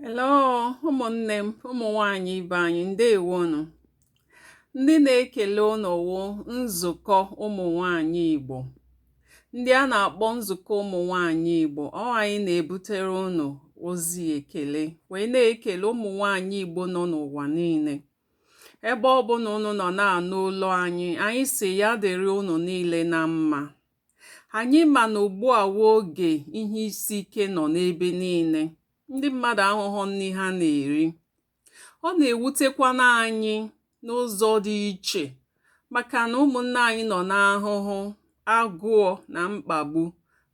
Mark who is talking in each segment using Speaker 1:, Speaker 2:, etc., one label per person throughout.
Speaker 1: hello ụmụnne m ụmụ nwanyị ibe anyị ndewonụ ndị na-ekele unu wụ nzukọ ụmụ nwanyị Igbo ndị a na-akpọ nzukọ ụmụ nwanyị Igbo ọ wụ anyị na-ebutere unu ozi ekele wee na-ekele ụmụ nwanyị Igbo nọ n'ụwa niile ebe ọ bụla unu nọ na-anụ olu anyị anyị sị ya dịrị unu niile na mma Anyị ma na ugbu a wụ oge ihe isi ike nọ n'ebe niile, ndị mmadụ ahụhụ nri ha na-eri. Ọ na-ewutekwana anyị n'ụzọ dị iche maka na ụmụnne anyị nọ n'ahụhụ, agụụ na mkpagbu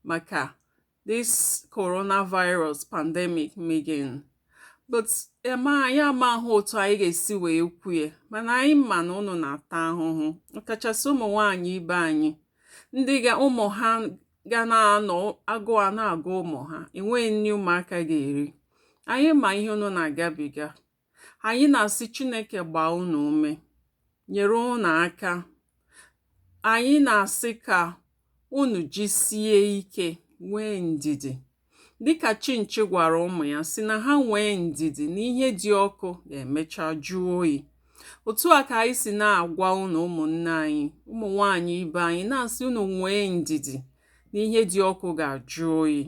Speaker 1: maka this coronavirus pandemic meganụ but em anyị amaghị otu anyị ga-esi wee kwue mana anyị ma na unu na-ata ahụhụ ọkachasị ụmụ nwaanyị ibe anyị ndị ga ụmụ ha ga na-anọ agụụ a na-agụ ụmụ ha enweghị nri ụmụaka ga-eri anyị ma ihe unu na-agabiga anyị na-asị Chineke gbaa unu ume nyere unu aka anyị na-asị ka unu jisie ike nwee ndidi dịka chinchi gwara ụmụ ya sị na ha nwee ndidi na ihe dị ọkụ ga-emecha jụọ oyi otu a ka anyị si na-agwa unu ụmụnne anyị ụmụ nwanyị ibe anyị na-asị unu nwee ndidi na ihe dị ọkụ ga-ajụ oyi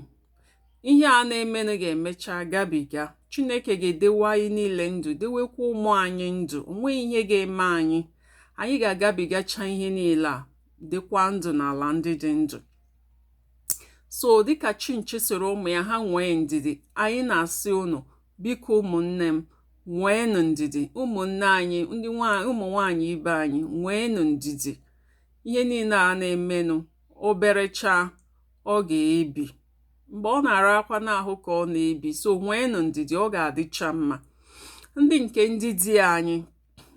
Speaker 1: ihe a na-emenụ ga-emecha gabiga chineke ga-edewe anyị niile ndụ dewekwa ụmụ anyị ndụ o nweghị ihe ga-eme anyị anyị ga-agabigacha ihe niile a dịkwa ndụ n'ala ndị dị ndụ so dịka chinchi sịrị ụmụ ya ha nwee ndidi anyị na-asị unu biko ụmụnne m nweenụ ndidi ụmụnne anyị ndị ụmụ nwaanyị ibe anyị nweenụ ndidi ihe niile a na-emenụ oberecha ọ ga-ebi mgbe ọ na-arakwana ahụ ka ọ na-ebi so nweenụ ndidi ọ ga-adịcha mma ndị nke ndị di anyị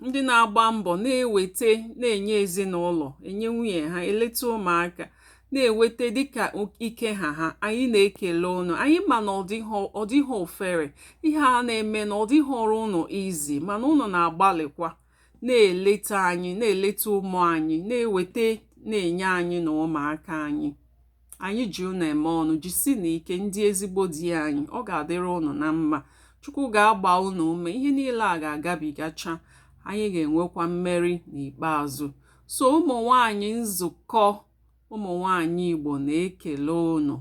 Speaker 1: ndị na-agba mbọ na-eweta na-enye ezinụlọ enye nwunye ha eleta ụmụaka na-eweta dịka ike ha ha anyị na-ekele unu anyị ma na ọ dịghị ofere ihe a na-eme na ọ dịghịrị unu easy mana unu na-agbalịkwa na-eleta anyị na-eleta ụmụ anyị na-eweta na-enye anyị na ụmụaka anyị anyị ji unu eme ọnụ jisinụ ike ndị ezigbo di anyị ọ ga-adịrị unu na mma chukwu ga-agba unu ume ihe niile a ga-agabigacha anyị ga-enwekwa mmeri n'ikpeazụ so ụmụ nwanyị nzukọ ụmụ nwanyị Igbo na-ekele ụnụ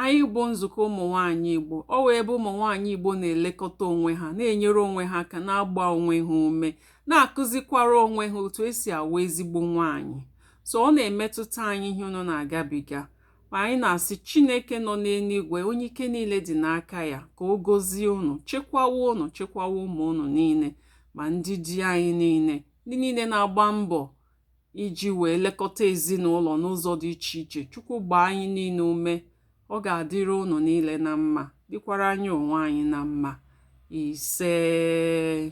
Speaker 1: anyị bụ nzukọ ụmụ nwanyị Igbo ọ wụ ebe ụmụ nwanyị Igbo na-elekọta onwe ha na-enyere onwe ha aka na-agba onwe ha ume na-akụzikwara onwe ha otu e si awụ ezigbo nwanyị so ọ na-emetụta anyị ihe ụnụ na-agabiga ma anyị na-asị Chineke nọ n'eluigwe onye ike niile dị n'aka ya ka o gozie ụnụ chekwawa ụnụ chekwawa ụmụ ụnụ niile ma ndị di anyị niile ndị niile na-agba mbọ iji wee lekọta ezinụlọ n'ụzọ dị iche iche chukwu gbaa anyị niile ume ọ ga-adịrị ụnụ niile na mma dịkwara anyị onwe anyị na mma isee